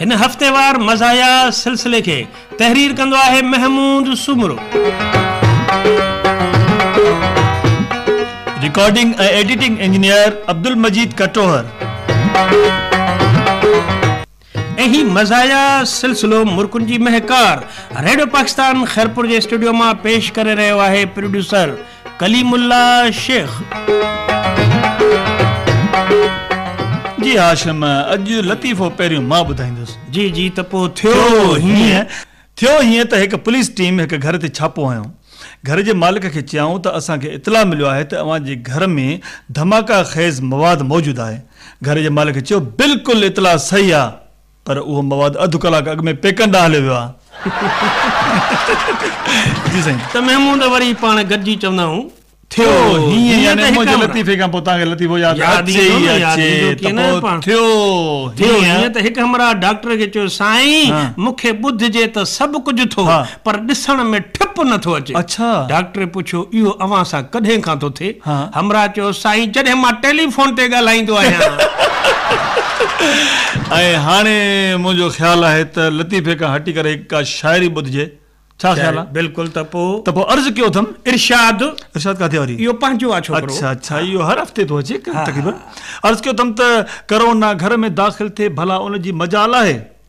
هن هفتيوار مزاحيه سلسلي کي تحرير ڪندو آهي Mahmood Soomro. Recording ۽ editing engineer Abdul Majeed Katohar. ۽ هي مزاحيه سلسلو مرڪن جي مهڪار ريڊيو پاڪستان خيرپور جي اسٽوڊيو مان پيش ڪري رهيو آهي پروڊيوسر ڪليم الله شيخ. جي هاشم اڄ لطيفو پهريون مان ٻڌائيندس. جي جي ته پوء ٿيو هيئن. ٿيو هيئن ته هڪ پوليس ٽيم هڪ گهر تي ڇاپو هنيو. گهر جي مالڪ کي چيائون ته اسان کي اطلاع مليو آهي ته اوهان جي گهر ۾ ڌماڪا خيز مواد موجود آهي. گهر جي مالڪ چيو بلڪل اطلاع صحيح آ. پر اهو مواد اڌ ڪلاڪ اڳ ۾ پيڪن ڏانهن هليو ويو آهي. جي سائين. ته محمود ته وري پاڻ گڏجي چوندا هون. ٿيو هيئن يعني منهنجي لطيفي کان پوء توهان کي لطيفو ياد اچي ئي اچي ته پوء ٿيو هيئن. ٿيو هيئن ته هڪ همراهه ڊاڪٽر کي چيو سائين مون کي ٻڌجي ته سڀ ڪجهه ٿو پر ڏسڻ ۾ ٺپ نه ٿو اچي. ڊاڪٽر پڇيو، اهو اوهان سان ڪڏهن کان ٿو ٿئي؟ همراهه چيو، سائين جڏهن مان ٽيليفون تي ڳالهائيندو آهيان. ۽ هاڻي منهنجو خيال آهي ته لطيفي کان هٽي ڪري هڪ ڪا شاعري ٻڌجي. ڇا خيال آهي؟ بلڪل ته پوء. ته پوء عرض ڪيو اٿم. ارشاد. ارشاد ڪاٿي واري؟ اهو پنهنجو آهي ڇوڪرو. اڇا اڇا اهو هر هفتي ٿو اچي تقريبن. عرض ڪيو اٿم ته ڪرونا گهر ۾ داخل ٿئي ڀلا ان جي مجال آهي؟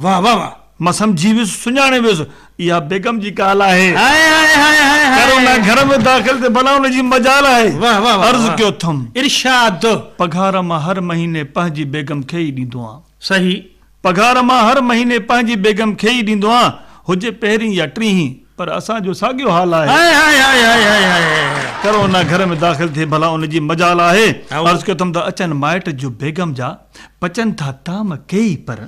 واه واه واه. مان سمجهي ويس سڃاڻي ويس اها بيگم جي ڪال آهي. هائي هائي هائي هائي هائي. ڪرونا گهر ۾ داخل ٿي ڀلا ان جي مجال آهي. واه واه واه. عرض ڪيو ٿم. ارشاد. پگهار مان هر مهيني پنهنجي بيگم کي ئي ڏيندو آهيان. صحيح. پگهار مان هر مهيني پنهنجي بيگم کي ئي ڏيندو آهيان هجي پهرين يا ٽيهين پر اسان جو ساڳيو حال آهي. هائي هائي هائي هائي هائي هائي. ڪرونا گهر ۾ داخل ٿي ڀلا ان جي مجال آهي. عرض ڪيو ٿم ته اچن مائٽ جو بيگم جا. پچن ٿا طعم ڪيئي پر.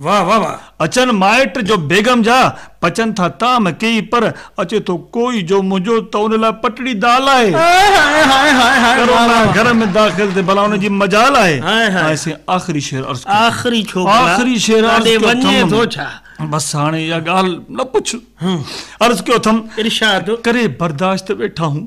واھ واھ واھ. اچن مائٽ جو بيگم جا، پچن ٿا طعم ڪيئي پر، اچي ٿو ڪوئي جو منهنجو ته ان لاء پٽڙي دال آهي. ڪرونا گهر ۾ داخل ٿي ڀلا ان جي مجال آهي. آء سين آخري شعر عرض ڪيو ٿم. آخري شعر عرض ڪيو ٿم. بس هاڻي اها ڳالهه نه پڇ. عرض ڪيو ٿم. ارشاد. ڪري برداشت ويٺا هون.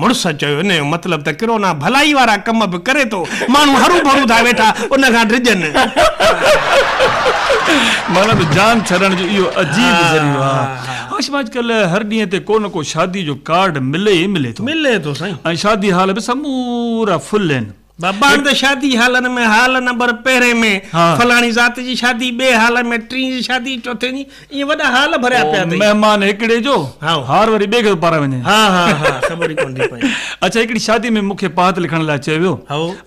مڙس چيو، ان جو مطلب ته ڪرونا ڀلائي وارا ڪم به ڪري ٿو، ماڻهو هرو ڀرو ٿا ويٺا ان کان ڊڄن. معنيٰ ته جان ڇڏڻ جو اهو عجيب ذريعو آهي. هاشم اڄڪلهه هر ڏينهن تي ڪو نه ڪو شاديء جو ڪارڊ ملي ئي ملي ٿو. ملي ٿو سائين. ۽ شادي هال به سمورا فل آهن. ڀاڻ ته شادي هالن ۾ هال نمبر پهرين ۾ فلاڻي ذات جي شادي ٻئي هال ۾ ٽين جي شادي چوٿين جي ائين وڏا هال ڀريا پيا اٿئي مهمان هڪڙي جو هار وري ٻئي کي ٿو پارائي وڃي ها ها ها خبر ئي ڪونه ٿي پئي اڇا هڪڙي شادي ۾ مونکي پات لکڻ لاء چيو ويو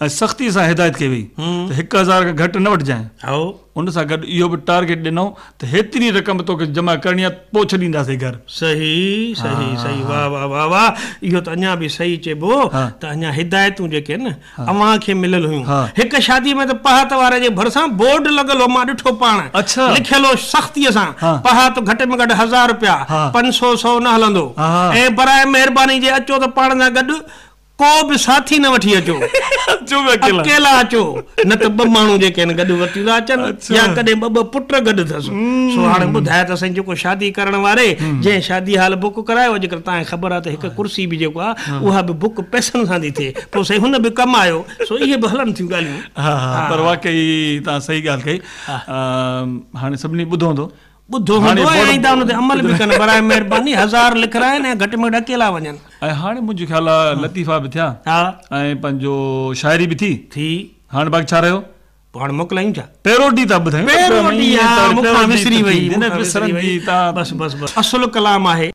۽ سختي سان هدايت ڪئي وئي ته هڪ هزار کان گهٽ نه وٺجانء ان سان گڏ اهو به ٽارگيٽ ڏنائون ته هيتري رقم توکي جمع ڪرڻي آهي پوء ڇڏينداسين گهر. صحيح صحيح صحيح واه واه واه واه اهو ته اڃا به صحيح چئبو ته اڃا هدايتون جيڪي آهن نه اوهان کي مليل هيون هڪ شادي ۾ ته پهات واري جي ڀرسان بورڊ لڳل هو مان ڏٺو پاڻ لکيل هو سختي سان پهات گهٽ ۾ گهٽ هزار رپيا پنج سو سو نه هلندو ۽ براء مهرباني جي اچو ته پاڻ سان گڏ ڪو به ساٿي نه وٺي اچو، اڪيلا اچو، نه ته ٻه ماڻهو جيڪي هن گڏ ورتيون ٿا اچن يا ڪڏهن ٻه ٻه پٽ گڏ اٿس. سو هاڻي ٻڌاء ته سائين جيڪو شادي ڪرڻ واري جنهن شادي هال بڪ ڪرايو اڄڪلهه تانکي خبر آهي ته هڪ ڪرسي به جيڪو آهي اها به بڪ پئسن سان ٿي ٿئي پوء سائين هن به ڪم آيو سو اهي به هلن ٿيون ڳالهيون. ها ها پر واقعي تان صحيح ڳالهه ڪئي هاڻي سڀني ٻڌو هوندو. ٻڌو هوندو ۽ آئنده ان تي عمل به ڪن براء مهرباني هزار لکرائن ۽ گهٽ ۾ گهٽ اڪيلا وڃن. ۽ هاڻي منهنجو خيال آ لطيفا به ٿيا ۽ پنهنجو شاعري به ٿي هاڻي باقي ڇا رهيو. پوء هاڻي موڪلايون ڇا. پيروڊي ٿا ٻڌايون. پيروڊي ها مون کان وسري وئي. اصل ڪلام آهي.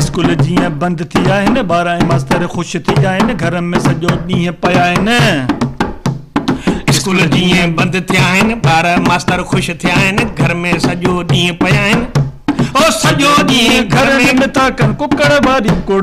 اسڪول جيئن بند ٿي آهن ٻار ۽ ماستر خوش ٿي آهن گهر ۾ سڄو ڏينهن پيا آهن اسڪول جيئن بند ٿيا آهن ٻار ماستر خوش ٿيا آهن گهر ۾ سڄو ڏينهن پيا آهن او سڄو ڏينهن گهر ۾ ٿا ڪن ڪڪڙ واري ڪڙ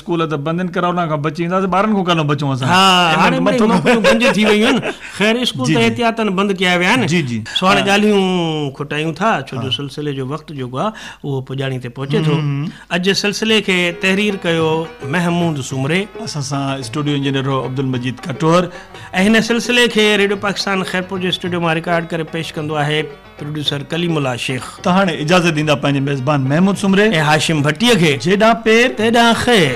اسڪول ته بند ان ڪرونا کان بچي وينداسين ٻارن کان ڪانه بچون اسان ها هاڻي مٿو نوڪريون بند ٿي ويون آهن خير اسڪول ته احتياطن بند ڪيا ويا آهن جي جي سو هاڻي ڳالهيون کٽايون ٿا ڇو جو سلسلي جو وقت جيڪو آهي اهو پڄاڻي تي پهچي ٿو اڄ جي سلسلي کي تحرير ڪيو محمود سومري اسان سان اسٽوڊيو انجنيئر هو عبدالمجيد کٽوهر ۽ هن سلسلي کي ريڊيو پاڪستان خيرپور جي اسٽوڊيو مان رڪارڊ ڪري پيش ڪندو آهي پروڊيوسر ڪليم الله شيخ ته هاڻي اجازت ڏيندا پنهنجي ميزبان محمود سومري ۽ هاشم ڀٽي کي جيڏانهن پير تيڏانهن خير.